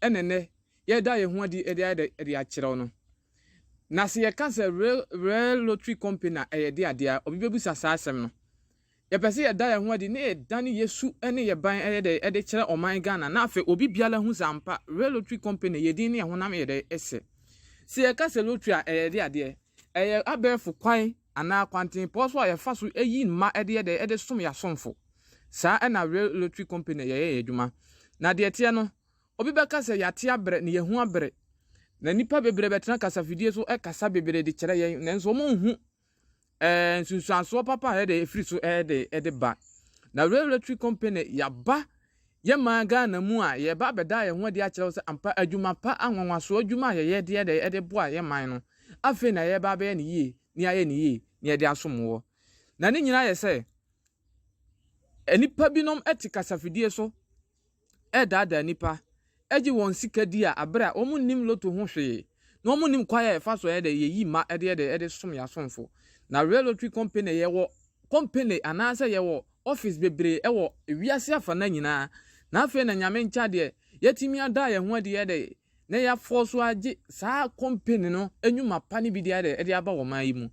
ɛna ɛnnɛ yɛreda yɛn ho adi de ayɛ dɛ de akyerɛw no. Na sɛ yɛka sɛ Real Real Lottery Company a, ɛyɛ de ade a, obi bebisa saa asɛm no. Yɛpɛ sɛ yɛda yɛn ho adi na yɛdane yɛn su ne yɛn ban yɛ dɛ de kyerɛ ɔman Ghana na afei obi biara ahu sɛ ampa Real Lottery Company yɛ din ne yɛn honam yɛ dɛ hyɛ. Sɛ yɛka sɛ lottery a, ɛyɛ de adeɛ. Ɛyɛ abɛɛfo kwan. anaa kwantempɔn so a yɛfa so yi mma de yɛ dɛn? De som yɛn asomfo. Saa na Rail Lottery Company na yɛyɛ yɛn adwuma. Na deɛ ɛteɛ no, obi bɛka sɛ yɛate abrɛ na yɛahu abrɛ, na nnipa bebree bɛtena kasafidie so kasa bebree de kyerɛ yɛn, nanso wɔnhu ɛɛ nsunsuansoɔ papa a ɛyɛ dɛn? Ɛfiri so ɛyɛ dɛn? Ɛde ba. Na Rail Lottery Company, yɛaba Yɛ maa Ghana mu a, yɛreba abɛda yɛn ho adi akyerɛ wo sɛ ampa adwuma pa, anwanwasoɔ adwuma a yɛyɛ de yɛ dɛ de boa yɛ man no, afei na yɛreba abɛyɛ no yie ne ayɛ no yie ne yɛde asom woɔ. Na ne nyinaa yɛ sɛ nnipa binom te kasafidie so redaadaa nnipa. gye wɔn sika di a bere a wɔnnim lotto ho hwee na wɔnnim kwan a yɛfa so yɛ dɛ yeyi mma de yɛ dɛ de som yɛn asomfo. Na Real Lottery Company yɛwɔ kɔmpene anaasɛ yɛwɔ office bebree wɔ wiase afanan nyinaa na afei na Nyame nkyɛ adeɛ yɛatumi ada yɛn ho adi yɛ dɛ na yɛafɔɔ so agye saa kɔmpene no nnwuma pa no bi de ayɛ dɛ de aba ɔman yi mu.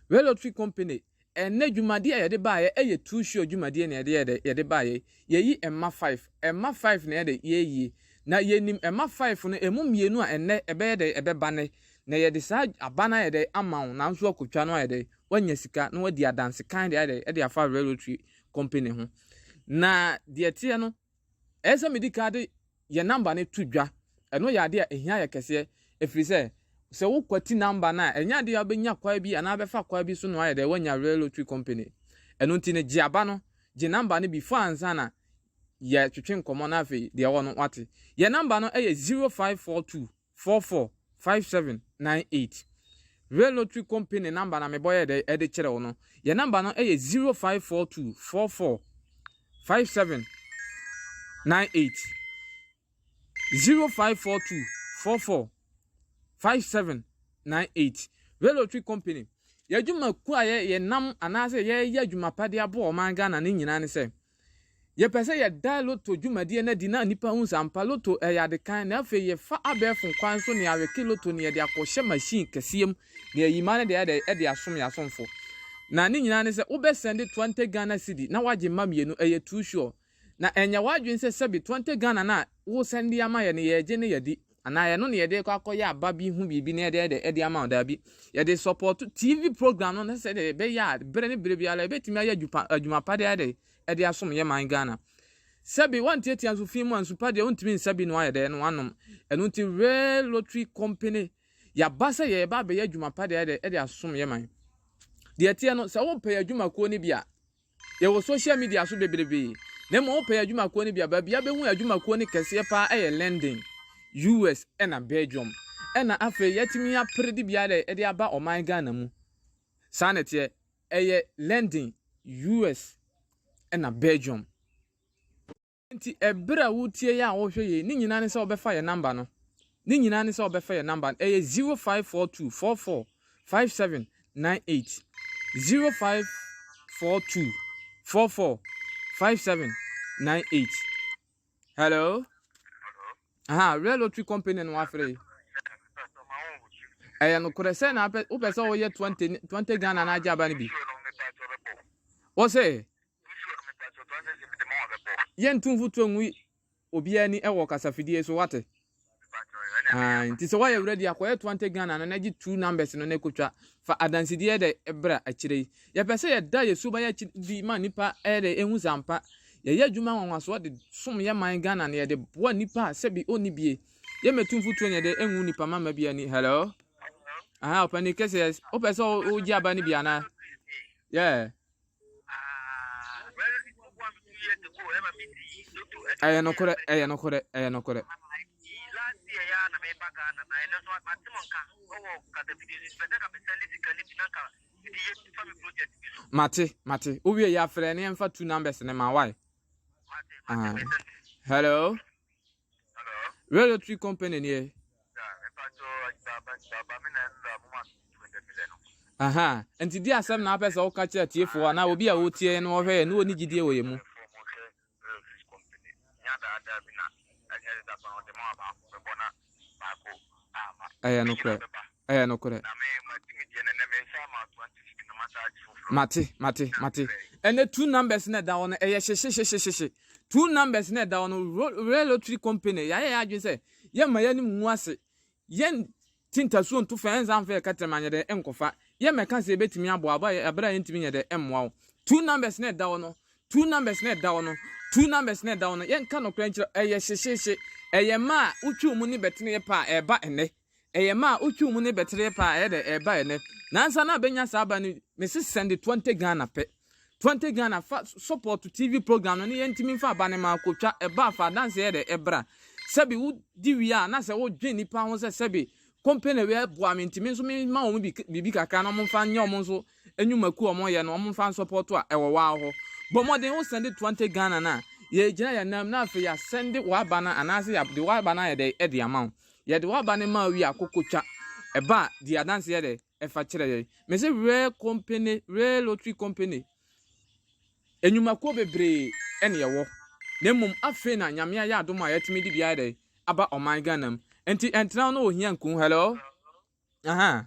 Real Lottery Company. Ɛnnɛ dwumadie a yɛde baeɛ ɛyɛ too sure dwumadie na yɛde yɛdɛ yɛde baeɛ yɛyi mma five mma five na yɛdɛ yɛyie na yɛnim mma five no ɛmu mmienu a ɛnnɛ ɛbɛyɛ dɛ ɛbɛba nɛ na yɛde saa aba no ayɛ dɛ ama wo nanso woakɔtwa no ayɛ dɛ woanya sika na woadi adansekan de ayɛ dɛ ɛde afa railway tree company ho na deɛ ɛteɛ no Ɛyɛ sɛ midi kan de yɛn number no to dwa. Ɛno yɛ ade a ehia yɛ kɛseɛ, ɛfiri sɛ, sɛ wokwati number no a, ɛnyɛ adeɛ a wobɛnya kwae bi anaa bɛfa kwae bi so na woayɛ dɛ woanya Real Lottery Company. Ɛno nti no, gye aba no, gye number no before ansa na yɛatwetwe nkɔmmɔ na afei deɛ ɛwɔ no woate. Yɛn number no yɛ 0542. four four five seven nine eight Rail lottery company number na mebɔ yɛ dɛ ɛde kyerɛ wo no yɛ number no ɛyɛ zero five four two four four five seven nine eight zero five four two four four five seven nine eight Rail lottery company yɛdwuma ku a yɛ yɛnam anaasɛ yɛyɛ adwuma pa de aboa ɔman Ghana ne nyinaa ne sɛ Yɛpɛ sɛ yɛda Lotto dwumadie no adi na nnipa hu sɛ ampa Lotto ɛyɛ ade kann na afei yɛfa abɛɛfo kwan nso ne awɛke Lotto no yɛde akɔhyɛ machine kɛseɛ mu na yɛayi mmaa no de ayɛ dɛn de asom yɛn asomfo na ne nyinaa ne sɛ wobɛ sɛnde twenty Ghana cedi na wagye mma mmienu ɛyɛ too sure na ɛnyɛ w'adwene sɛ sɛbe twenty Ghana no a wosɛnde ama yɛn no yɛregye na yɛadi Anaa ɛno na yɛde rekɔ akɔyɛ aba bi ho biribi na yɛde de de ama wo daabi. Yɛde support TV program no na sɛdeɛ ɛbɛyɛ a berɛ ne berɛ biara yɛbɛtumi ayɛ adwuma adwuma pa de ayɛ dɛ de asom yɛ man Ghana. Sɛbi wantiatia nso fi mu a nsu pa deɛ wontumi nsa bi na wayɛ dɛ na wanom. Ɛno nti Rare Lottery Company yɛaba sɛ yɛreba abɛyɛ adwuma pa de ayɛ dɛ de asom yɛ man. Deɛ ɛteɛ no sɛ wopɛ yɛn adwumakuo no bi a Yɛwɔ social media so bebrebe. Na mmom wopɛ adwumakuo no bi a, baabi a wobɛhu adwumakuo no kɛseɛ pa ara yɛ London, US, ɛna Belgium. Ɛna afei yɛatumi apere de bi ara de aba ɔman Ghana mu. Saa na ɛteɛ. Ɛyɛ London, US, ɛna Belgium. Nti ɛberɛ a woretie yɛn a wɔrehwɛ yɛn yi, ne nyinaa ne sɛ wɔbɛfa yɛn number no. Ne nyinaa ne sɛ wɔbɛfa yɛn number no. Ɛyɛ 0542445798. 0542445798. Hello? Aha, Rare Lottery Company no wafrɛ yi. Ɛyɛ nokorɛ sɛ na wopɛ sɛ woyɛ 20 20 Ghana na agye aba no bi. Wo se? Yɛnto mfuturo ngu obiara ni wɔ kasafidie so wate ae nti sɛ woayɛ werɛ di akɔyɛ to ante ghana no na gye two numbers no na ɛkɔtwa fa adansedeɛ dɛ ɛbra akyire yi yɛpɛ sɛ yɛda yɛ so bayɛ akyiri di ma nnipa ɛdɛ ɛhu sɛ ampa yɛyɛ adwuma nwanwasoɔ de som yɛ man ghana no yɛde boa nnipa a sɛbi ɔnni bie yɛmɛtu mfotuo nyɛ dɛ ɛnwu nnipa mama bi ani hello aha ɔpani kɛseɛ wopɛ sɛ wogye aba no bi anaa yeah ɛyɛ nokorɛ ɛyɛ nokorɛ ɛyɛ nokorɛ mate mate wowie yɛ afrɛ ne yɛmfa two numbers ne ma wae hello Red Lottery Company ni ɛ. Aha, nti di asɛm na apɛ sɛ woka kyerɛ atiefoɔ anaa obi a ɔretie yɛn na ɔhwɛ yɛn na ɔni gyidie wɔ yɛn mu. Ɛyɛ nokorɛ. Ɛyɛ nokorɛ. Mate, mate, mate. Ɛnɛ two numbers na ɛda hɔ no, ɛyɛ hyehyehyehye. Two numbers na ɛda hɔ no, Royal Lottery Company, yɛayɛ yɛn adwene sɛ, yɛmma yɛanim ngu ase. Yɛn ti ntasuo nto fam, ɛnsa mfa yɛ kɛtɛm anyɛ dɛ nkɔfa. Yɛmmɛka sɛ yɛbɛtumi aboa wo, bere a yɛntumi nyɛ dɛ mmoa wo. Two numbers na ɛda hɔ no, Two numbers na ɛda hɔ no, two numbers na ɛda hɔ no, yɛnka nokorɛ nkyerɛ, ɛyɛ hyehyeehye. Ɛyɛ mma a wotwiw mu ne bɛteneɛ pɛ a ɛreba ɛnnɛ. Ɛyɛ mma a wotwiw mu ne bɛteneɛ pɛ a ɛyɛ dɛ ɛreba ɛnnɛ. Nansa na abɛnya saa aba no, mese sɛnde twenty Ghana pɛ. Twenty Ghana fa sɔpɔɔto TV program no ne yɛntumi mfa aba no ma kɔtwa, ɛba a fa adanseɛ yɛ dɛ ɛbra. Sɛbe wodi wie a na sɛ wodwen nnipa ho sɛ sɛbe company wei boa me nti me nso memma wɔn biribi kakra na wɔmfa nyɛ wɔn nso Nnwumakuo a wɔyɛ no wɔmfa nsɔpɔɔto a ɛwɔ waa hɔ. Bɔ mmɔden wo sɛnde toa nte Ghana no a yɛgyina yɛn nan mu na afei yɛasɛnde w'aba no anaase yɛde w'aba no ayɛ dɛn de ama wo. Yɛde w'aba no ma wo wie a kɔkɔ twa ɛba a di adanse yɛ dɛn ɛfa kyerɛ yɛn. Mese Rail Company, Rail Lottery Company nnwumakuo bebree ɛne ɛwɔ na mmom afei na Nyame ayɛ adom a yɛatumi de bi ayɛ dɛn aba ɔman Ghana mu. Nti ɛntena wo na ohia nku wo. Hello? Ahaa.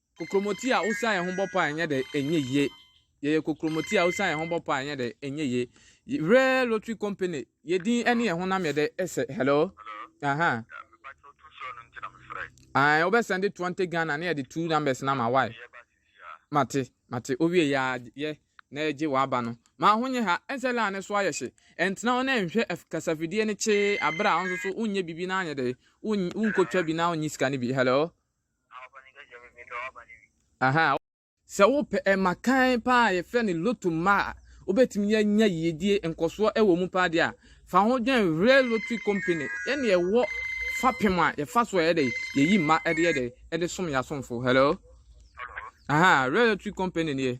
Kokromoti a wosan yɛn ho bɔ paa nyɛ dɛ ɛnyɛ yie. Yɛyɛ kokromoti a wosan yɛn ho bɔ paa nyɛ dɛ ɛnyɛ yie. Y- Rare Lottery Company, yɛ din ne yɛn honam yɛ dɛ ɛsɛ. Hello? Aha. Ae, wobɛsɛnde 20 Ghana na yɛde two numbers no ama. Why? Mate, mate. Owie yɛ a, yɛ na yɛgye w'aba no. Ma ho nyɛ ha, ɛnsɛ line no so ayɛ hye. Ɛntena hɔ na ɛnhwɛ ɛf- kasafidie no kyee abere a wo nso so wonyɛ biribi na anyɛ dɛ won- wonkɔtwa bi na wonyi sika no bi. Hello? Ahaa. Sɛ wopɛ ɛma kann pa a yɛfrɛ no loto mma a wobɛtumi anya yiedie nkɔsoɔ wɔ mu paa deɛ a, fa ho dwene Hwere Lottery Company ɛne ɛwɔ fapem a yɛfa so a yɛdɛ yɛyi mma ɛde yɛdɛ ɛde som yɛn asomfo. Hello? Ahaa, Hwere Lottery Company nie.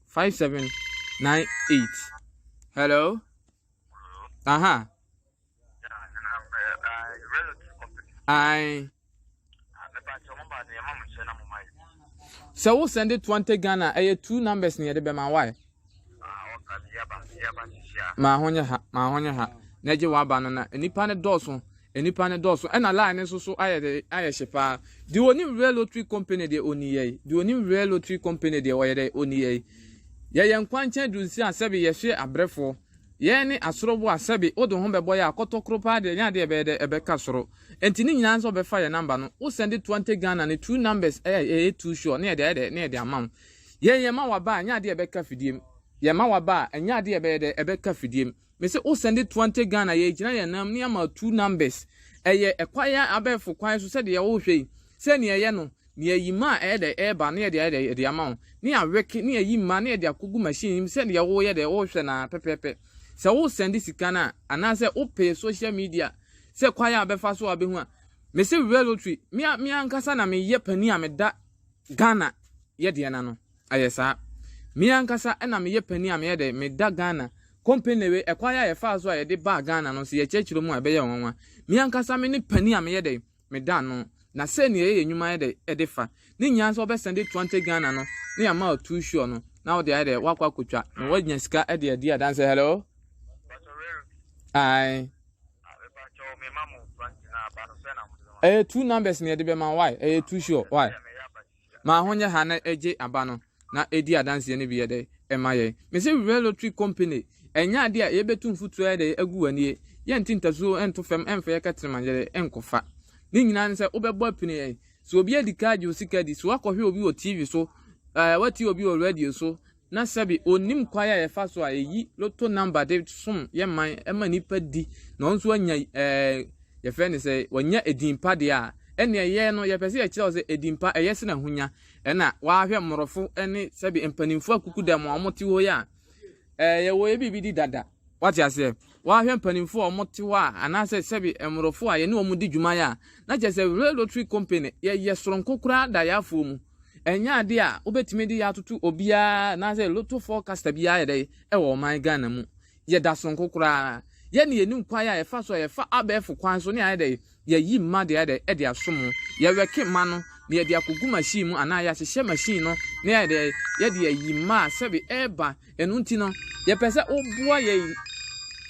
Five seven nine eight. Hello. Uh huh. Aye. sɛ wo send it twenty ghana ɛyɛ eh, two numbers na yɛde bɛma wae maa ho nyɛ ha maa ho nyɛ ha na gye waba no na nnipa no dɔɔso Nnipa no dɔɔso ɛna line no nso so ayɛ dɛ ayɛ hye paa. Deɛ ɔnim Rail Lottery Company deɛ ɔni yɛi. Deɛ ɔnim Rail Lottery Company deɛ ɔyɛ dɛ ɔni yɛi. Yɛyɛ nkwankyɛn du nsia sɛbe yɛhwe abrɛfoɔ. Yɛn ne asorobo a sɛbe wode wo ho bɛbɔ yɛ a kɔtɔ koro paa deɛ ɛnyɛ adeɛ a ɛbɛyɛ dɛ ɛbɛka soro. Ɛnti ne nyinaa ne sɛ wobɛfa yɛn number no. Wo sɛnde Twante Ghana ne two numbers a ɛyɛ two sure na yɛde ayɛ dɛ na yɛde ama wo. Yɛn yɛma wo aba a ɛnyɛ adeɛ a ɛbɛka fidiem. Yɛma wo aba a ɛnyɛ adeɛ a ɛbɛyɛ dɛ ɛbɛka fidiem. Me se wo sɛnde toa ntɛ Ghana yɛ gyina yɛ nam ne ama two numbers ɛyɛ ɛkwa yɛ abɛɛfo kwan so sɛdeɛ wo hwɛ yi sɛ neɛ yɛ no ne ayi mma a ɛyɛ dɛ ɛɛba ne yɛde ayɛ dɛ yɛde ama wo ne awɛke ne ayi mma ne yɛde akɔgu machine nim sɛdeɛ wo yɛ dɛ wo hwɛ no ara pɛpɛɛpɛ sɛ wo sɛnde sika no a anaasɛ wo pɛ social media sɛ kwan a bɛfa so a bɛhu a me se Real Lottery me a me ankasa na me yɛ panin a me da Ghana yɛ deɛ no ano ayɛ saa. Me ankasa na meyɛ panin a meyɛ dɛ, meda Ghana company wei ɛkwan a yɛfaa so a yɛde baa Ghana no nso yɛkyerɛkyerɛ mu a ɛbɛyɛ wo nwanwa. Me ankasa me ne panin a meyɛ dɛ, meda ano. Na sei na yɛyɛ yɛn nnwuma yɛ dɛ de fa. Ne nyinaa nso wɔbɛsɛnde twenty Ghana no na yɛama wo too sure no na wode ayɛ dɛ woakɔ akɔtwa na woanya sika de adi adanseɛ. Hello? Aye. Ɛyɛ two numbers na yɛde bɛma why ɛyɛ two sure why ma ho nyɛ ha na ɛgye aba no na ɛdi adanseɛ no bi yɛ dɛ ɛma yɛn mese wura lottery company ɛnyɛ adeɛ a yɛbɛtu mfotuo yɛ dɛ agu w'anie yɛnte ntasuo ɛnto fam ɛmfa yɛ kɛtrema yɛdɛ ɛnkɔfa ne nyinaa ne sɛ wobɛbɔ apini yɛn so obi adi kaa gye osika di so wakɔhwɛ obi wɔ tv so ɛɛ wati obi wɔ radio so na sɛbe onnim kwae a yɛfa so a yɛyi loto number de som yɛ man ma nnipa di na ɔno nso anya ɛɛ yɛfrɛ ne sɛ wanya edin pa deɛ a ɛnna ɛyɛ no yɛpɛ sɛ yɛkyerɛ wo sɛ edin pa ɛyɛ sena ahonya ɛna wahwɛ mmorɔfo ne sɛbe mpanimfoɔ akuku dɛm a wɔte hɔ yi a ɛɛ yɛwɔ yɛ biribi di dada wate aseɛ Woahwɛ mpanimfoɔ a wɔte hɔ a, anaasɛ sɛbe mmorɔfo a yɛne wɔn di dwuma a, na kyerɛ sɛ Wray Lottery Company no, yɛyɛ soronko koraa da yaafoɔ mu. Ɛnyɛ adeɛ a wobɛtumi de atoto obiara anaasɛ lotto forecaster biara yɛ dɛn wɔ ɔman Ghana mu. Yɛda soronko koraa. Yɛn na yɛnim kwan a yɛfa so a yɛfa abɛɛfo kwan so ne ayɛ dɛn Yɛyi mma de ayɛ dɛ de asom ho. Yɛwɛke mma no na yɛde akogu machine mu anaa yɛahyehyɛ machine no na yɛayɛ dɛ yɛde ayi mma a sɛbe ɛreba. Ɛno nti no, yɛpɛ sɛ woboa yɛn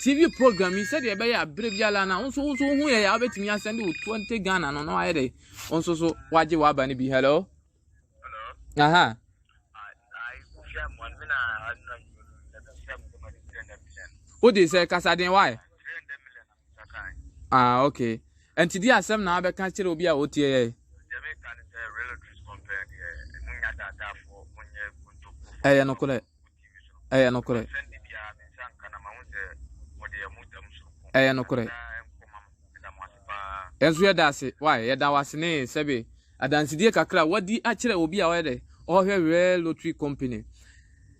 TV program yi sɛdeɛ ɛbɛyɛ a berɛ biara na wo nso wo nso wohu yɛn a wobɛtumi asɛnde wo 20 Ghana no na wayɛ dɛ wo nso so wagye w'aba no bi. Hello? Aha. Wode sɛ kasaden wae? Ah, okay. And today I said now I can't tell you what you are. ɛyɛ nokorɛ ɛyɛ nokorɛ ɛyɛ nokorɛ ɛnso yɛda ase wae yɛda wase ne sɛbe adansedie kakra wadi akyerɛ obi a ɔyɛ dɛ ɔhwɛ rare lottery company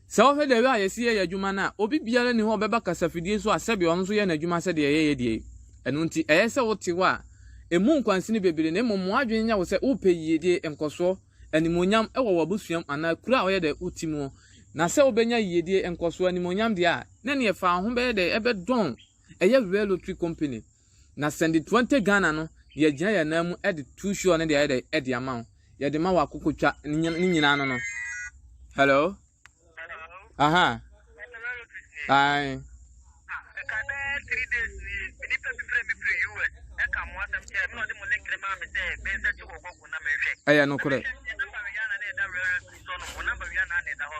Sɛ wohwɛ dɛw a yɛse yɛyɛ adwuma no a, obi biara nni hɔ a ɔbɛba kasafidie so a sɛdeɛ ɔno nso yɛ n'adwuma sɛdeɛ yɛyɛ deɛ yi. Ɛno nti, ɛyɛ sɛ wote hɔ a, mmu nkwansini bebree na mmom ma w'adwene nyɛ wo sɛ worepɛ yiedie, nkɔsoɔ, animuonyam wɔ w'abusuam anaa kuro a woyɛ dɛ wote muo. Na sɛ wobɛnya yiedie, nkɔsoɔ, animuonyam deɛ a, na nea ɛfa wo ho bɛyɛ dɛ, ɛbɛdɔn, ɛyɛ Rail Lottery Company. Na sɛ de Twenty Ghana no deɛ agyina yɛn nan mu de too show no deɛ ayɛ dɛ de ama wo. Yɛde ma wɔ akokotwa ne nyina- ne nyinaa no no. Hello? Aha. Ae. Ɛyɛ nokorɛ.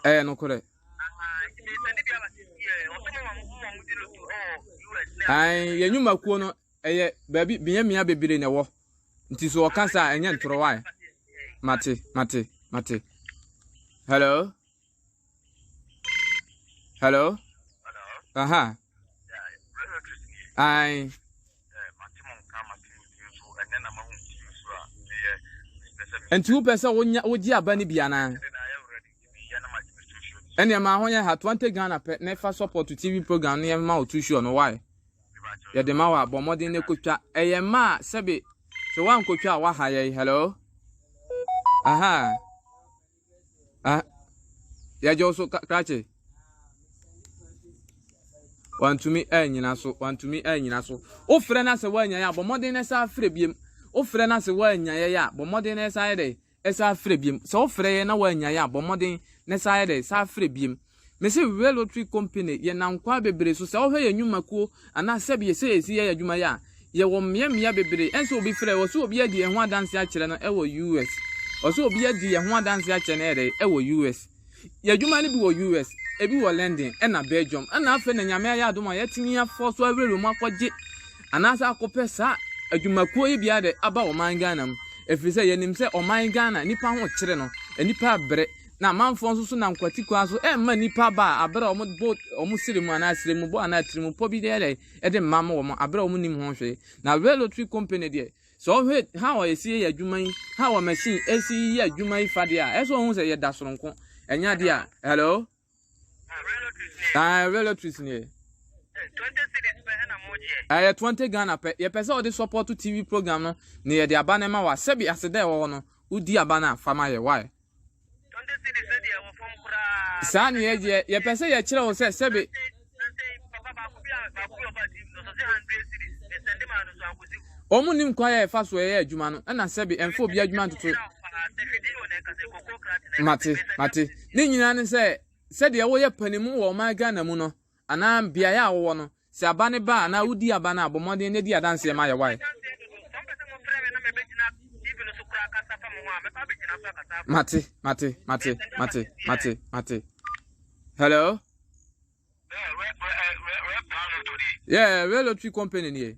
Ɛyɛ nokorɛ. Ae, yɛn nnwumakuo no, ɛyɛ baabi mmeammea bebree na ɛwɔ. Nti so ɔka saa a, ɛnyɛ ntorɔ wae. Mate, mate, mate. Hello? Hello? Aha. Ae. Nti wopɛ sɛ wonya wogye aba no bi anaa? ɛnneɛ maa ho yɛ ha twante ghana pɛ na ɛfa support to tv program no yɛma wo to show no why yɛde ma wo a bɔ mmɔden na ɛkɔtwa ɛyɛ mma a sɛbe sɛ woankɔtwa a woaha yɛn hello aha ah yɛgye wo so krakye wantumi anyina so wantumi anyina so wofrɛ no sɛ woanya yɛ a bɔ mmɔden na ɛsa afrɛ biem wofrɛ no sɛ woanya yɛ a bɔ mmɔden na ɛsa yɛ dɛ San frɛ biom. Sɛ wofrɛ yɛ na woannya yɛ a, bɔ mmɔden na san yɛ dɛ? San frɛ biom. Mese Whale Lottery Company yɛ nam kwaa bebree so. Sɛ wohwɛ yɛn nnwumakuo anaa sɛbea sɛ yɛsi yɛ adwuma yɛ a, yɛwɔ mmea mmea bebree. Ɛnsɛ obi frɛ, ɔsɛ obi adi yɛn ho adanse akyerɛ no wɔ US. Ɔsɛ obi adi yɛn ho adanse akyerɛ no ɛyɛ dɛ? Wɔ US. Yɛ adwuma no bi wɔ US, ebi wɔ London na Belgium, na afei na Nyame ayɛ adom a yɛatumi afɔ so awurawura mu akɔgye anaasɛ akɔpɛ saa adwumakuo yi biara de aba ɔman Ghana mu. Ɛfiri sɛ yɛnim sɛ ɔman Ghana nnipa ho kyere no, nnipa rebrɛ, na amanfoɔ nso so nam kwati kwan so remma nnipa ba a aberɛ a wɔbɔ wɔn sere mu anaa sere mu bɔ anaa tiri mu pɔ bi de yɛ dɛn de mma wɔn aberɛ a wɔnim ho hwee. Na railway company deɛ Sɛ ɔhwɛ ha a yɛsi yɛ adwuma yi, ha a machine ɛsi yɛ adwuma yi fa deɛ a, ɛsɛ ɔhu sɛ yɛda soronko. Ɛnyɛ adeɛ a, hello? Ah, railway trees ni yɛ. Ɛyɛ 20 Ghana pɛ. Yɛpɛ sɛ ɔde support TV program no na yɛde aba no ma wa. Sɛbi aseda ɛwɔ hɔ no, wodi aba no a, fa ma yɛ. Why? Saa na yɛ deɛ yɛpɛ sɛ yɛkyerɛ wo sɛ sɛbe. Wɔn nim kwan yɛ ɛfa so ɛyɛ adwuma no ɛna sɛbe ɛnfa obi adwuma ntoto. Mate mate ne nyinaa ne sɛ sɛdeɛ wɔyɛ panimu wɔ ɔman Ghana mu no. anaa beaeɛ a wowɔ no, sɛ aba no ba a, anaa wodi aba no a, bɔ mmɔden na di adanseɛ ma ayɛ wae. Mate, mate, mate, mate, mate, mate. Hello? Yeah, Rail Lottery Company nie.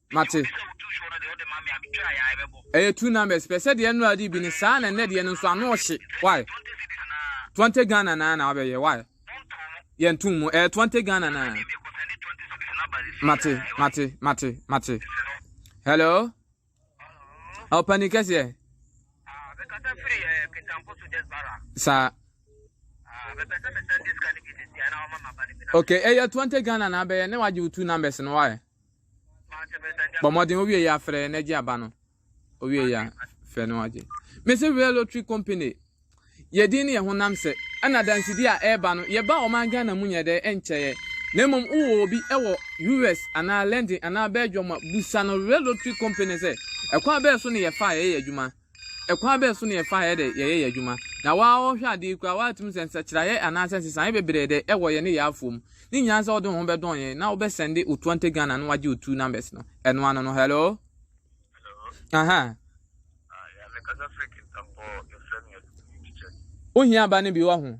Mate. Ɛyɛ two numbers pɛ sɛ deɛ nnora de bi ne saa na nnɛ deɛ no nso ano ɔhye why twenty Ghana na na abɛyɛ why yɛn tum mu ɛyɛ twenty Ghana na mate mate mate mate hello ɔpani kɛseɛ saa okay ɛyɛ twenty Ghana na abɛyɛ ne wagye wo two numbers no why. bɔ mmɔden wowie yɛ afrɛ na gye aba no wowie yɛ frɛ no agye mese real lottery company yɛdin ne yɛ honam sɛ ɛna dansedi a ɛreba no yɛba ɔman ghana mu nyɛ dɛ ɛnkyɛeɛ na mmom wowɔ obi ɛwɔ us anaa london anaa belgium a busa no real lottery company sɛ ɛkwan bɛɛ so ne yɛfa a yɛyɛ adwuma Kwan bɛn so na yɛfa yɛ dɛ yɛyɛ yɛ adwuma? Na wo a ɔhwɛ ade yi koraa, woatumi sɛ nsakyeraeɛ anaasɛ nsesaeɛ bebree dɛ ɛwɔ yɛ ne yɛ afoɔ mu. Ne nyinaa sɛ wode wo ho bɛdɔn yɛn na wobɛ sɛnde wo Tuante Ghana no wagye wo two numbers no. Ɛno ano no, hello? Hello? Ahaa. Ah, yeah, me kasa freak ntampɔ, yɛfrɛ me Adumu Teacher. Wohia aba no bi wahu?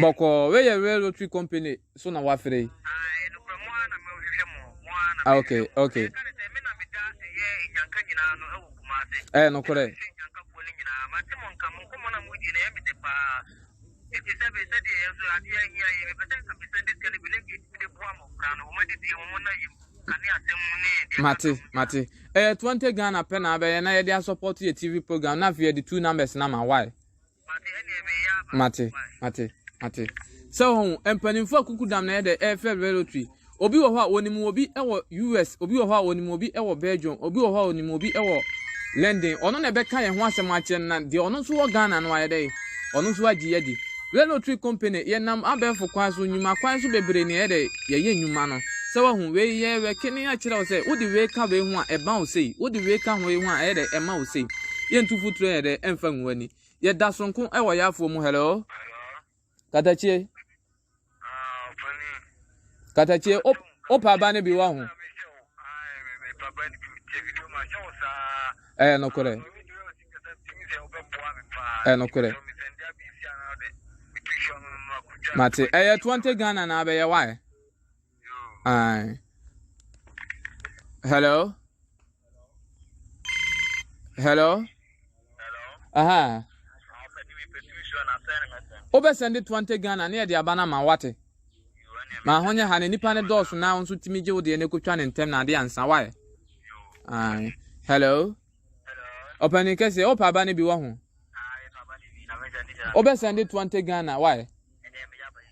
Bɔkɔ weyɛ Rail Rotary Company so na wafere yi. Ah, ok, ok. Ɛyɛ eh, nokorɛ. Mate, mate. Ɛyɛ eh, 20 Ghana pɛ na abɛyɛ na yɛde asɔpɔto yɛ TV program na afei yɛde two numbers na ma, why? mate mate mate sɛ wɔn mpanimfoɔ akuku dam na yɛ dɛ ɛfɛ relotry obi wɔ hɔ a wɔnim obi wɔ us obi wɔ hɔ a wɔnim obi wɔ belgium obi wɔ hɔ a wɔnim obi wɔ london ɔno na ɛbɛka yɛn ho asɛm akyerɛ no na deɛ ɔno nso wɔ ghana no ayɛ dɛ ɔno nso agye yɛ di relotry company yɛnam abɛɛfo kwan so nnwuma kwan so bebree na yɛ dɛ yɛyɛ nnwuma no. Sɛ wahu wei yɛ rekene akyerɛ wo sɛ wode wei ka wei ho a ɛba wo sei, wode wei ka wei ho a ɛyɛ dɛ ɛma wo sei. Yɛntu futuro yɛ dɛ ɛmfa ngu w'ani. Yɛda sonko wɔ yaafoɔ mu hello. Katakyie. Katakyie o pa aba no bi wɔ ho. Ɛyɛ nokorɛ. ɛnokorɛ mate ɛyɛ 20 ghana na abɛyɛ wae ae hello hello aha wobɛsɛnde 20 ghana ne yɛde aba no ma wate ma ho nyɛ ha na nipa no dɔɔso na wo nso tumi gye wo deɛ no kɔtwa ne ntɛm na ade ansa wae ae hello Ɔpanin kɛseɛ, wopɛ aba no bi wɔ ho? Wobɛsɛn de 20 Ghana, why?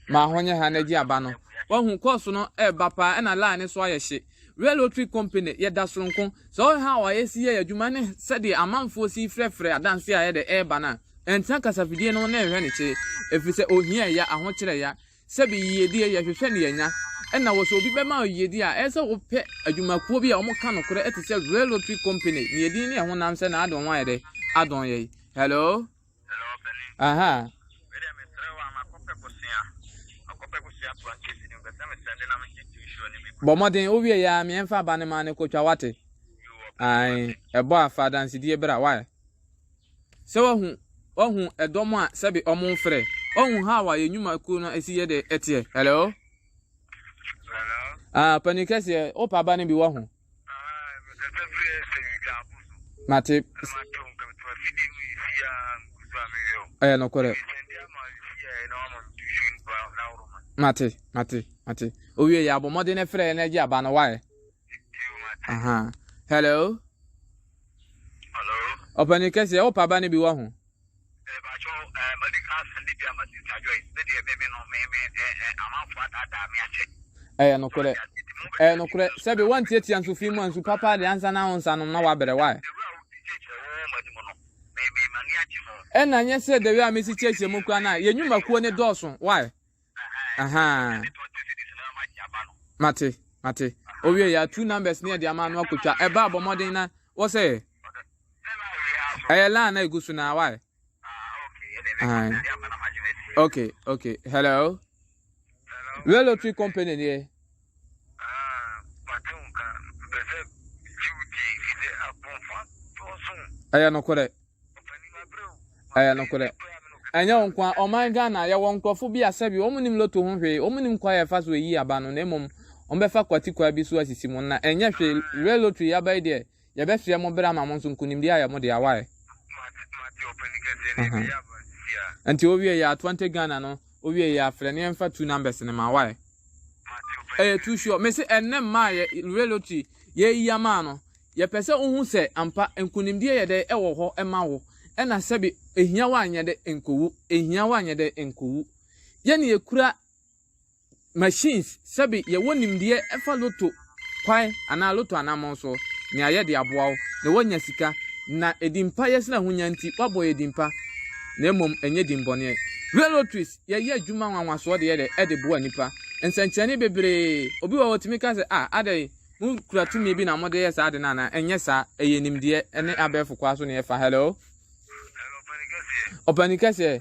Ma ho nyɛ ha na gye aba no. Wahu kɔɔso no ɛreba paa ɛna line no so ayɛ hye. Real Lottery Company yɛda soronko. Sɛ ɔyɛ ha a yɛsi yɛ adwuma ne sɛdeɛ amanfoɔ si frɛfrɛ adanseɛ a ɛyɛ dɛ ɛreba no a, ɛntena kasafidie no ho na ɛnhwɛ ne kye. Ɛfiri sɛ ohia ya, ahokyerɛ ya. Sɛ bi yiyedi a yɛhwehwɛ na yɛanya, ɛna wɔ sɛ obi bɛma wo yiyedi a, ɛyɛ sɛ wopɛ adwumakuo bi a wɔka nokorɛ te sɛ Rare Lottery Company ne yɛdin ne ɛho nam sɛ na ade wɔn ayɛ dɛ adɔn yɛn. Hello? Hello, panin. Aha. Me deɛ mesrɛ wo a makɔpɛ bosea, makɔpɛ bosea po ankesi no, mepɛ sɛ me sɛnde na megye to nsuo no bi. Bɔ mmɔden, wo wie yɛ a meɛmfa aba no ma no kɔtwa, wate? Ae, ɛbɔ a fa adansedie bra, why? Sɛ wahu wahu ɛdɔm a sɛbi ɔmo mfrɛ. Wahu how a yɛ nnwumakuo no esi yɛ dɛ ɛteɛ. Hello? Hello? Ah, panin kɛseɛ, wopa aba no bi wahu. Mate. Ɛyɛ nokorɛ. Mate, mate, mate. Owie yɛ abɔ mmɔden frɛ na agye aba no wae. Aha. Hello? ɔpani kɛseɛ wo paba no bi wɔ ho ɛbakyɛ ɛɛ madi ka asɛm de bi ama sista joy ne deɛ meme no meme ɛɛ amanfoɔ adaadaa me akyɛ ɛyɛ nokorɛ ɛyɛ nokorɛ sɛbi wantiatia nso fi mu a nsu papa de ansa na wo nsa nom na wabrɛ wae ɛna nyɛ sɛ dawi a mesi kyɛkyɛ mu kura no a yɛ nnwumakuo ne dɔɔso wae Ahaa. Mate, mate. Owie yɛ two numbers ne yɛde ama no akotwa. Ɛba abɔ mmɔden na wɔ sɛ yɛ. Ɛyɛ line na egu so na wae. Okay, okay. Hello. Real Lottery Company deɛ. Ah, mate wo nka. Mepɛ sɛ megye wo die, fi sɛ akɔmfo adɔɔso. Ɛyɛ nokorɛ. Ɔpanin abrɛ o. Ɛyɛ nokorɛ. Ɛnyɛ wo nko a, ɔman Ghana, yɛwɔ nkorɔfo bi a sɛbi wɔn nim loto ho hwee, wɔn nim kwan a yɛfa so yi aba no, na mmom wɔbɛfa kwati kwan bi so asisi mu, na ɛnyɛ hwee, real lottery yi aba yi deɛ, Yɛbɛsoɛ mo berɛ ama mo nso nkonimdie ayɛ mo dea wai. Nti owie yɛ atwante Ghana no owie yɛ afrɛ ne yɛmfa two numbers no ma wai. Ɛyɛ too sure mese ɛnnɛ mmaa yɛ lure lottery yɛyi ama no yɛpɛ sɛ wohu sɛ ampa nkonimdie yɛ dɛ ɛwɔ hɔ ɛma wo ɛna sɛbi ɛhia wo anyɛ dɛ nkowu ɛhia wo anyɛ dɛ nkowu yɛne yɛkura machines, sɛbe yɛwɔ nimdeɛ ɛfa lotto kwan anaa lotto anamɔn so, nea yɛde aboa wo na woanya sika, na edinpa yɛ sene ahonya nti woabɔ yɛ dinpa na mmom ɛnyɛ dinbɔneɛ. Real lotteries yɛyɛ adwuma nwanwasoɔ deɛ dɛ ɛde boa nnipa. Nsɛnkyerɛnne bebree, obi wɔ hɔ ɔtumi ka sɛ ah adɛn mo kura tumi bi na mo de yɛ saa ade no anaa, ɛnyɛ saa, ɛyɛ nimdeɛ ɛne abɛɛfo kwaa so na yɛfa. Hello? Hello, Ɔpanikɛseɛ. Ɔpanikɛseɛ.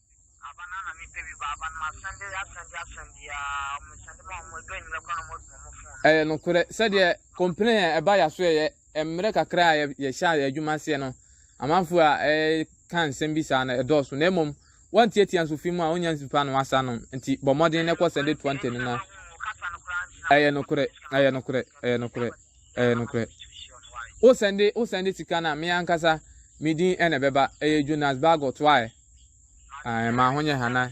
Aba no a na mepɛ bi ba, aba no masɛnde asɛnde asɛnde a, mesɛnde ma wɔn, ɛdɔ anwummerɛ koraa na wɔn abu wɔn fon. Ɛyɛ nokorɛ sɛdeɛ complain a ɛba yɛaso yɛ mmerɛ kakra a yɛhyɛ yɛ adwuma aseɛ no amanfoɔ a ɛka nsɛm bi saa no ɛdɔɔso na mmom wɔntiatia nso fi mu a wonya nsupa no wasa nom nti bɔ mmɔden na ɛkɔ sɛnde 20 no na ɛyɛ nokorɛ ɛyɛ nokorɛ ɛyɛ nokorɛ ɛyɛ nokorɛ wosɛnde wosɛnde sika no a me ankasa medin ɛna ɛbɛba ɛyɛ Jonas Bagot waɛ Ae, ma ho nyɛ Hannah.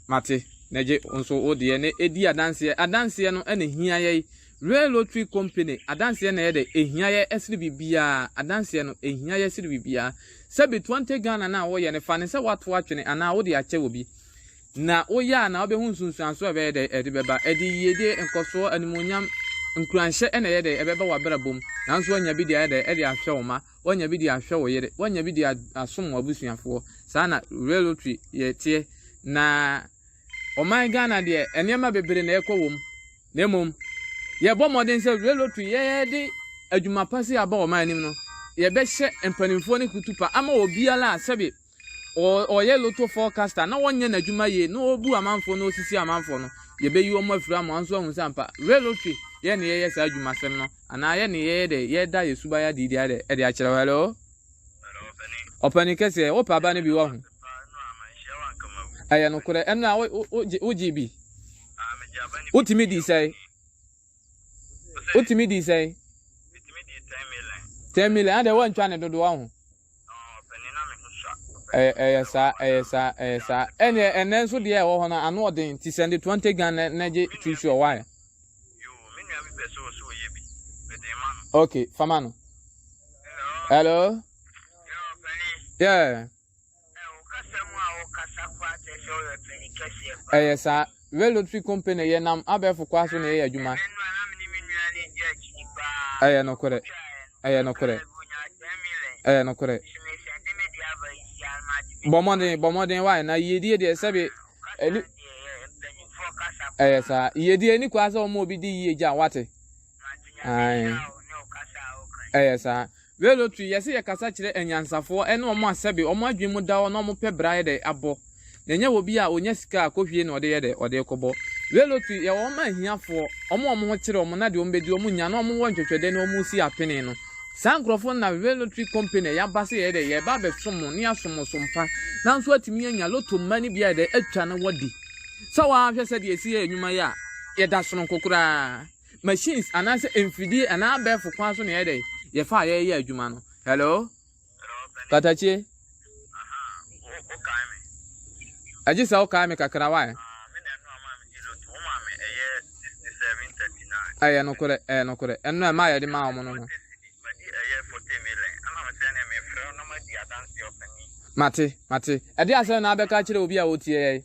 Mate, na gye wo nso wo deɛ na ɛdi adanseɛ. Adanseɛ no na ɛhia yɛn. Rail Lottery Company, adanseɛ na ɛyɛ dɛ, ɛhia yɛn ɛsene biribiara. Adanseɛ no, ɛhia yɛn sene biribiara. Sɛbe Twenty Ghana no a woreyɛ no, fa no sɛ woato atwene anaa wode akyɛ obi. Na woyɛ a, na wobɛhu nsunsuansoɔ a ɛbɛyɛ dɛ ɛde bɛba. Ɛde yiedie, nkɔsoɔ, animuonyam, nkuranhyɛ na ɛyɛ dɛ ɛbɛba w'abrabɔ mu. Nanso woanya bi de ayɛ dɛ ɛde ahwɛ wo mma. Woanya bi de ahwɛ wo yere. Woanya bi de asom w'abusuafoɔ. Saa na railway yɛ teɛ. Na ɔman Ghana deɛ, nneɛma bebree na ɛkɔ wom. Na mmom, yɛbɔ mmɔden sɛ railway yɛde adwuma pa si aba ɔman anim no, yɛbɛhyɛ mpanimfoɔ no kutupa ama obiara a sɛbe ɔyɛ lotto forecaster na wɔnyɛ n'adwuma yie na ɔbu amanfoɔ na ɔsisi amanfoɔ no yɛbɛyi wɔn afiri ama wɔn nso ahu sɛ ampa real lottery yɛ ne yɛyɛ saa adwumasɛm no anaa yɛ ne yɛyɛ dɛ yɛda yɛ suban adi di adɛ ɛde akyerɛ hello ɔpani kɛseɛ wopɛ aba no bi wɔ ho ɛyɛ nokorɛ ɛno a wogye bi wotumi di sɛe wotumi di sɛe 10 million adɛ woantwa ne dodoɔ ho Ɛyɛ ɛyɛ saa ɛyɛ saa ɛyɛ saa ɛnna ɛnna nso deɛ ɛwɔ hɔ no ano ɔden ti sɛ de twenty gan na na gye two sure why. okay fama no. hello. yeah. ɛyɛ saa. Red Lottery Company yɛ nam abɛɛfo kwa so na yɛyɛ adwuma. Ɛyɛ nokorɛ. Ɛyɛ nokorɛ. Ɛyɛ nokorɛ. Bɔ mmɔden, bɔ mmɔden wae, na yiedie deɛ sɛbe ɛni. Ɛyɛ saa. Yiedie ɛni kwa sɛ wɔma obi di yie gya, wate. Ae. Ɛyɛ saa. Velo tui, yɛse yɛkasa kyerɛ anyansafoɔ ne wɔn a sɛbe wɔn adwene mu da hɔ na wɔpɛ bra yɛ dɛ abɔ. Na ɛnyɛ wɔ bi a ɔnya sika a kɔhwie na ɔde yɛ dɛ ɔde kɔbɔ. Velo tui, yɛwɔ wɔn a ahiafoɔ, wɔn a wɔn ho kyere wɔn na deɛ wɔn bɛdi wɔn nya na wɔn wɔ ntwɛtwɛdɛ na wɔn si apene no. Saa nkorɔfoɔ no na Velo tui company yɛaba sɛ yɛyɛ dɛ yɛba abɛsom mo ne yɛasom mo som pa. Nanso atumi anya lotto mma no bi ayɛ dɛ atwa na wɔadi. Sɛ woaa hwɛ sɛdeɛ yɛsi yɛ anwuma yi a, yɛda sononko koraa. machines anaasɛ mfidie anaa abɛɛfo kwan so na yɛyɛ dɛn yɛfa a yɛyɛ adwuma no hello katakye agye sɛ wokae me kakra wae ɛyɛ nokorɛ ɛyɛ nokorɛ ɛno ɛma yɛde ma wɔn no no mate mate ɛde asɛm na abɛka kyerɛ obi a ɔtie yɛn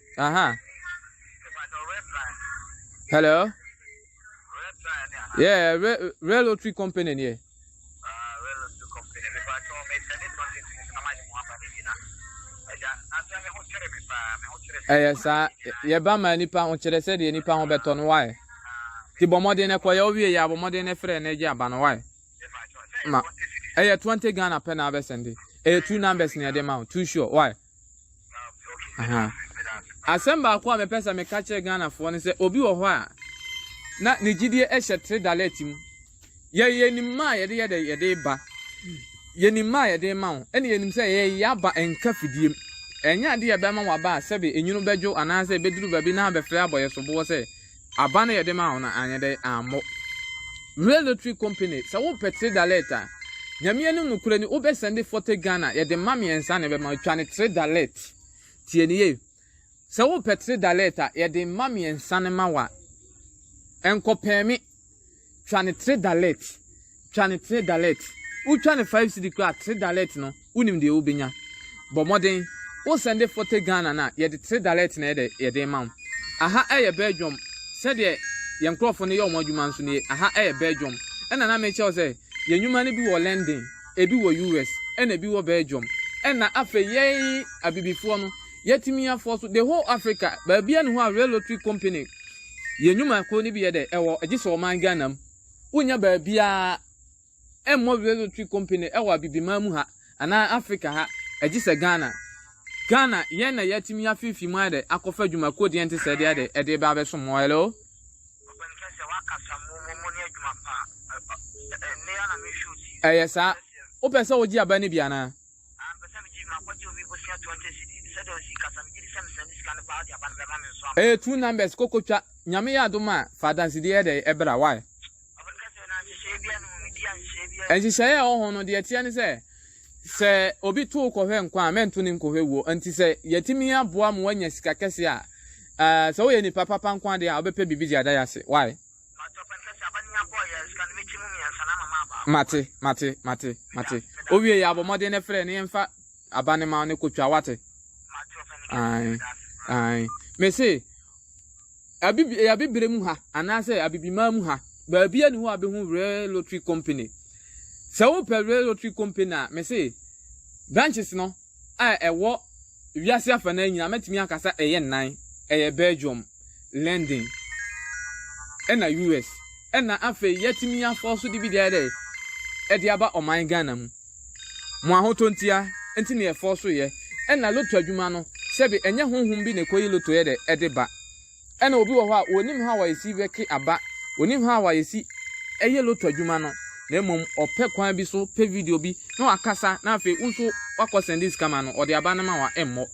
Aha. Hello? Yeah, re Real Lottery Company, yeah. ɛyɛ saa yɛba ma nipa ho kyerɛ sɛ deɛ nipa ho bɛtɔ no wae ti bɔ mmɔden no kɔyɛ wowie yɛ abɔ mmɔden no frɛ no agye aba no wae ma ɛyɛ 20 ghana pɛ na abɛsɛnde ɛyɛ two numbers na ɛde ma wo two sure wae Aha. Asɛm baako a mepɛ sɛ meka kyerɛ Ghanafoɔ no sɛ obi wɔ hɔ a na ne gyidie hyɛ tre dalɛt mu. Yɛ yɛnim ma a yɛde yɛde yɛde ba. Yɛnim ma a yɛde ma wo. Ɛne yɛnim sɛ yɛyɛ aba nka fidiem. Ɛnyɛ adeɛ a ɛbɛma waba a sɛbe enwunu bɛdwo anaasɛ ɛbɛduru baabi na abɛfrɛ abɔ yɛ soboɔ sɛ Aba no yɛde maa wo no anyɛ dɛn ammɔ. Rail lottery company sɛ wo pɛ three dalert a Nyame anim nokorɛ ni wo bɛ sɛnde forty Ghana yɛde mma miɛnsa na ɛbɛma twa ne three dalert tie no yie sɛ wo pɛ three dalert a yɛde mma miɛnsa no ma wo a ɛnkɔ pɛɛme. Twa no tre dalet. Twa no tre dalet. Wotwa no five cedi koraa a, tre dalet no, wonim deɛ wobɛnya. Bɔ mmɔden. Wo sɛnde fɔte Ghana no a, yɛde tre dalet na yɛde yɛde rema wo. Aha yɛ Belgium. Sɛdeɛ yɛn nkorɔfoɔ no yɛ wɔn adwuma nso nie. Aha yɛ Belgium. Ɛna na mekyerɛ wo sɛ, yɛn nnwuma no bi wɔ London, ebi wɔ US, ɛna ebi wɔ Belgium. Ɛna afei yɛn Abibifoɔ no, yɛatumi afɔɔ so the whole Africa. Baabiara ne hɔ a Real Lottery Company Yɛn nnwuma koro no bi yɛ dɛ, ɛwɔ gye sɛ ɔman Ghana mu. Wonnya baabiara mmɔ Resotwe Company wɔ Abibiman mu ha anaa Afrika ha, gye sɛ Ghana. Ghana, yɛn na yɛatumi afiifi mu ayɛ dɛ akɔfa adwuma koro deɛ nte sɛ deɛ dɛ ɛde reba abɛsom mo. Hello? Ɛyɛ saa. Wopɛ sɛ wogye aba no bi anaa? Ah mepɛ sɛ megye makɔgye obi bosea twenty cedi sɛdeɛ osi kasa megye di sɛ mesɛn de sika no paa ɔde aba no bɛma me nso ampa. Ɛyɛ true numbers koko twa nyame yɛ adom a fa adansedie yɛ dɛn ɛbra why. Ɔbɛn kɛseɛ na nhyehyɛɛ biaa nni ho medi a nhyehyɛɛ biaa nni ho. Nhyehyɛɛ a ɛwɔ ho no deɛ ɛteɛ ne sɛ sɛ obi to wo kɔhwɛ nkwa a mɛnto no nkɔhwɛ wuo nti sɛ yɛtumi aboa ma wanya sika kɛseɛ a sɛ woyɛ nipa papa nko ara deɛ a wobɛpɛ biribi de ada yɛ ase why. Mate, mate, mate, mate. Owie yɛ abɔ mmɔden ne frɛ ne yɛmfa aba ne ma ne kotwa wate. Ae, ae. Mese, abibire mu ha anaasɛ abibimaa mu ha baabi ani hɔ a bɛhu real lottery company sɛ wopɛ real lottery company a mese branches no a ɛwɔ wiase afanan nyinaa, mɛtumi aka sɛ ɛyɛ nnan, ɛyɛ Belgium, London, ɛna US. Ɛna afei yɛatumi afɔ so de bi deɛ dɛ ɛde aba ɔman Ghana mu. Mo ahotɔ ntia nti na yɛfɔ so yɛ. Ɛna lotto adwuma no, sɛbe ɛnyɛ honhom bi na ɛkɔyi lotto yɛ dɛ ɛde ba. Ɛna obi wɔ hɔ a onnim how a yɛsi wɛke aba, onnim how a yɛsi yɛ loto adwuma no, na mmom ɔpɛ kwan bi so pɛ video bi na wakasa na afei wo nso wakɔ sɛnde sika ma no, ɔde aba no ma wo a ɛmmɔ.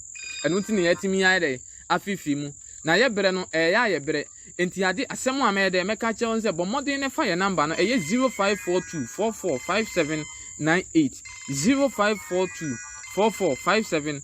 Ɛno nti na yɛatumi ayɛ dɛn? Afeefee mu. Na yɛ berɛ no, ɛyɛ a yɛ berɛ. Enti ade, asɛm a mɛyɛ dɛn? Mɛka akyerɛ wo ne sɛ bɔ mmɔden na fa yɛn namba no, ɛyɛ 0542 44 5798, 0542 44 5798.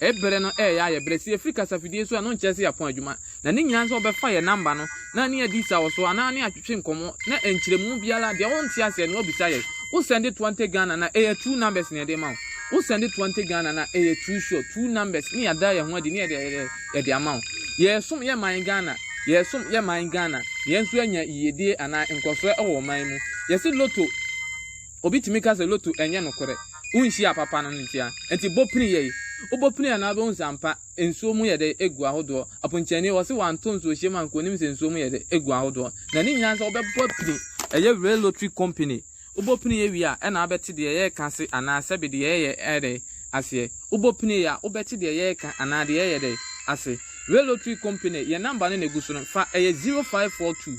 Bere no reyɛ ayɛ bere. Sɛ yɛfiri kasafidie so a, ɛno nkyerɛ sɛ yɛapɔn adwuma. Na ne nyinaa ne sɛ wɔbɛfa yɛn namba no na ne yɛadi saw so anaa ne yɛatwetwe nkɔmmɔ na nkyerɛmu biara, deɛ wonte aseɛ no, woabisa yɛn. Wo sɛnde Twante Ghana no a, ɛyɛ two numbers na yɛde ma wo. Wo sɛnde Twante Ghana no a, ɛyɛ two sure, two numbers, ne yɛada yɛn ho adi ne yɛde ayɛ dɛ yɛde ama wo. Yɛresom yɛn man Ghana. Yɛresom yɛn man Ghana. Yɛn nso anya yiyedie anaa nkɔsoɔ wɔ ɔman mu. Yɛse Lotto. Obi tumi ka sɛ loto ɛnyɛ nokorɛ, wonhyiaa papa no nkyia nti bɔ pini yɛi, wobɔ pini a na wobɛhu sɛ ampa nsuo mu yɛ dɛ gu ahodoɔ, aponkyɛni wɔse wanto nsuo hyɛm anka ɔnim sɛ nsuo mu yɛ dɛ gu ahodoɔ, na ne nyinaa sɛ wobɛbɔ pini, ɛyɛ real lottery company, wobɔ pini yɛ wie a ɛna wobɛte deɛ yɛreka ase anaa sɛbe deɛ yɛyɛ ɛyɛ dɛ aseɛ, wobɔ pini yɛ a wobɛte deɛ yɛreka anaa deɛ yɛyɛ dɛ ase, real lottery company yɛn number no na ɛgu so no fa ɛyɛ zero five four two.